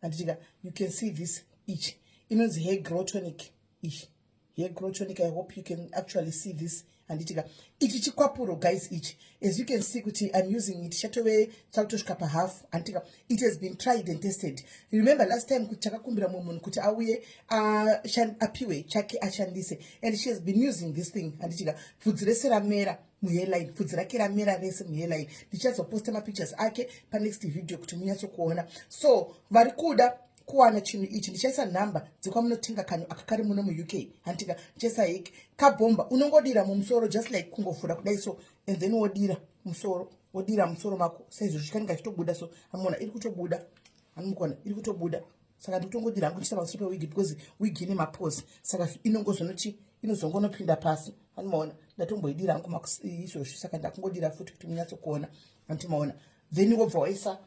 handitika you can see this ichi inonzi hair grow tonic ichi hair grow tonic i hope you can actually see this handitika ichi chikwapuro guys ichi as you can see kuti i'm using it chatove chakutosvika pahalf handitika it has been tried and tested remember last time kuti takakumbira mumwe munhu kuti auye apiwe chake ashandise and she has been using this thing handitika bvudzi rese ramera muheadline pfudzi rake ramera rese muheadline ndichazoposta mapictures ake panext video kuti munyatsokuona so vari kuda kuwana chinhu ichi ndichaisa nhamba dzekwamunotenga kanhu aka kari muno muuk handitinga ndichaisa heki kabhomba unongodira mumusoro just like kungovhura kudai so and then wodira musoro wodira musoro mako saizvozvi kanenge achitobuda so amuona iri kutobuda amukuona iri kutobuda saka ndikutongodira hangu ndichita pamusoro pewigi because wigi ine mapose saka inongozonoti inozongonopinda pasi andimaona ndatomboidira hangu izvozvi saka ndakungodira futi kuti munyatsokuona andimaona then wobva waisa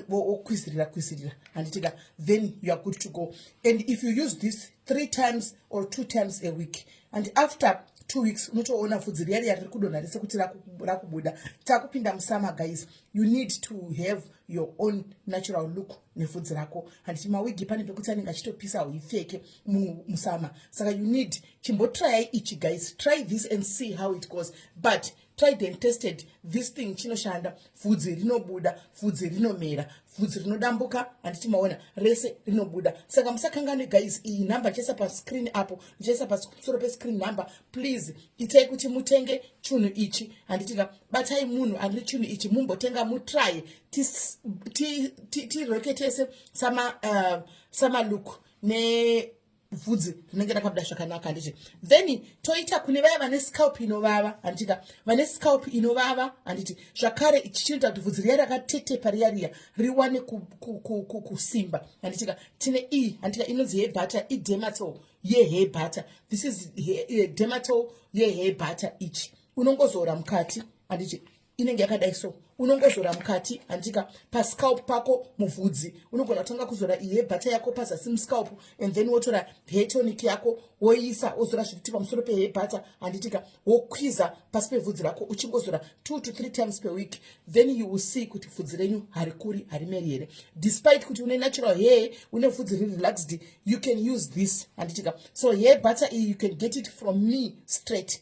wokwizirira kwizirira handitika then you are good to go and if you use this three times or two times a week and after two weeks unotoona fudzi riya riya riri kudonha rese kuti rakubuda takupinda musama guys you need to have your own natural look nevhudzi rako handiti mawigi pane pekuti anenge achitopisa huipfeke musama saka you need chimbotrayai ichi guys try this and see how it goes but tried and tested this thing chinoshanda vhudzi rinobuda vhudzi rinomera vhudzi rinodambuka handiti maona rese rinobuda saka musakanganwe guys iyi number ndichaisa pascreen apo ndichaisa pasoro pescreen number please itai kuti mutenge chunhu ichi handitika batai munhu ane chunhu ichi mumbotenga mutraye tireketese eh, samaluku uh, nevhudzi rinenge rakabuda zvakanaka handiti then toita kune vaya vane scalp inovava handitika vane scalp inovava handiti zvakare ichi chinoita kuti vhudzi riya rakatetepa riya riya riwane kusimba handitika tine iyi handitika inonzi hebata idematol yehebata this is dematol yehebata ichi unongozora mukati handiti inenge yakadai so unongozora mukati handika pascalp pako muvhudzi unogona kutanga kuzora ihe bhata yako pazasi muscalp and then wotora hetonic yako woiisa wozora zvekuti pamusoro pehe bhata handitika wokwiza pasi pevhudzi rako uchingozora two to three times per week then you will see kuti vhudzi renyu harikuri harimeri here despite kuti une natural hair une vhudzi riri relaxed you can use this handitika so hair bhata iyi you can get it from me straight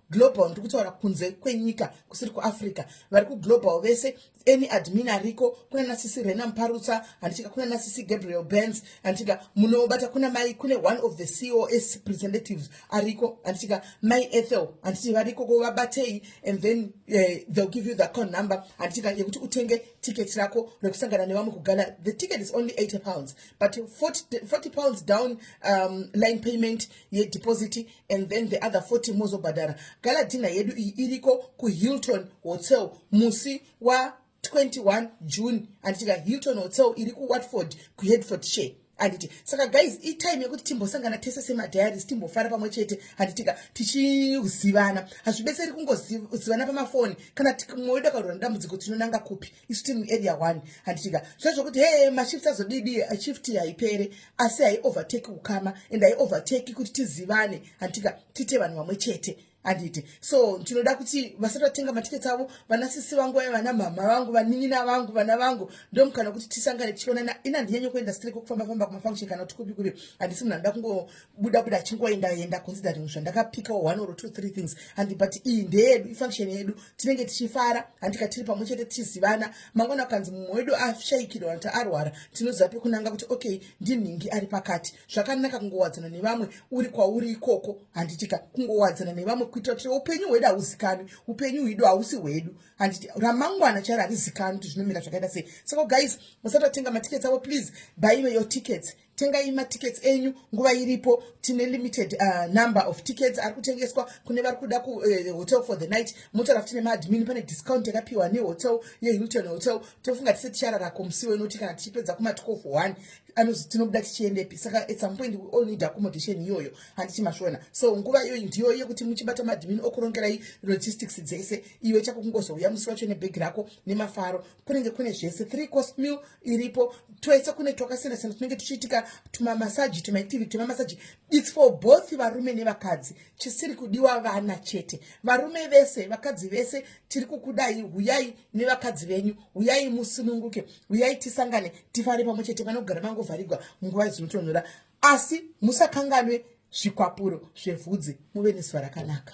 global ndiri kutaura kunze kwenyika kusiri kuafrica vari kuglobal vese any admin ariko kuna nasisi rena muparutsa handitika kuna nasisi gabriel bens handitika munobata kuna mai kune one of the cos presentatives ariko handitika mai ethel handiti variko ko vabatei and then uh, eh, theyll give you the account number handitika yekuti utenge ticket rako rekusangana nevamwe kugala the ticket is only 80 pounds but 40, 40 pounds down um, line payment yedeposit and then the other 40 mozobhadhara galadhina yedu iyi iriko kuhilton hotel musi wa 21 june anditika hilton hotel iri kuwatford kuhedford share handiti saka guys itime yekuti timbosangana tese semadiaries timbofara pamwe chete handitika tichizivana hazvibetseri kungozivana pamafoni kana moida karura dambudziko tinonanga kupi isu tiri muarea one handitika zvezvokuti hee mashift azodidi shift haipere asi haiovertake ukama and haiovertake kuti tizivane handitika tiite vanhu vamwe chete handiti so ndinoda kuti vasati vatenga matiketi avo vana sisi vangu vaya vana mhamha vangu vanin'ina vangu vana vangu ndomukana kuti tisangane tichionana ina ndinyanye kuenda strek kufamba famba kumafunction kana kuti kupi kupi handisi munhu anoda buda buda chingoenda enda considering zvandakapika one or two three things handi but iyi ndeyedu ifunction yedu tinenge tichifara handika tiri pamwe chete tichizivana mangwana kukanzi mumwe wedu ashaikirwa kuti arwara tinoziva pekunanga kuti okay ndinhingi ari pakati zvakanaka kungowadzana nevamwe uri kwauri ikoko handitika kungowadzana nevamwe kuitira kuti upenyu hwedu hauzikanwi upenyu hwedu hausi hwedu handiti ramangwana charo harizikanwi kuti zvinomira zvakaita sei saka guys musatotenga matickets avo please baive your tickets tengai matickets enyu nguva iripo tine limited uh, number of tickets ari kutengeswa kune vari kuda kuhotel eh, uh, for the night motaura kuti nemaadmin pane discount yakapiwa nehotel yehilton hotel tofunga tise tichararako musiwo inoti kana tichipedza kuma 12 one anozi tinobuda tichiendepi saka at some point we all need accommodation iyoyo handiti masvona so nguva iyoyi ndiyo yekuti muchibata madmin okurongerai logistics dzese iwe chako kungozouya musi wacho nebhegi rako nemafaro kunenge kune zvese three cost meal iripo twese kune twakasiyana siyana tunenge tuchiitika tumamasaji tumaitivi tumamasaji its for both varume nevakadzi chisiri kudiwa vana chete varume vese vakadzi vese tiri kukudai huyai nevakadzi venyu huyai musununguke huyai tisangane tifare pamwe chete vanogara mangovharigwa munguva dzinotonhora asi musakanganwe zvikwapuro zvevhudzi muve nezuva rakanaka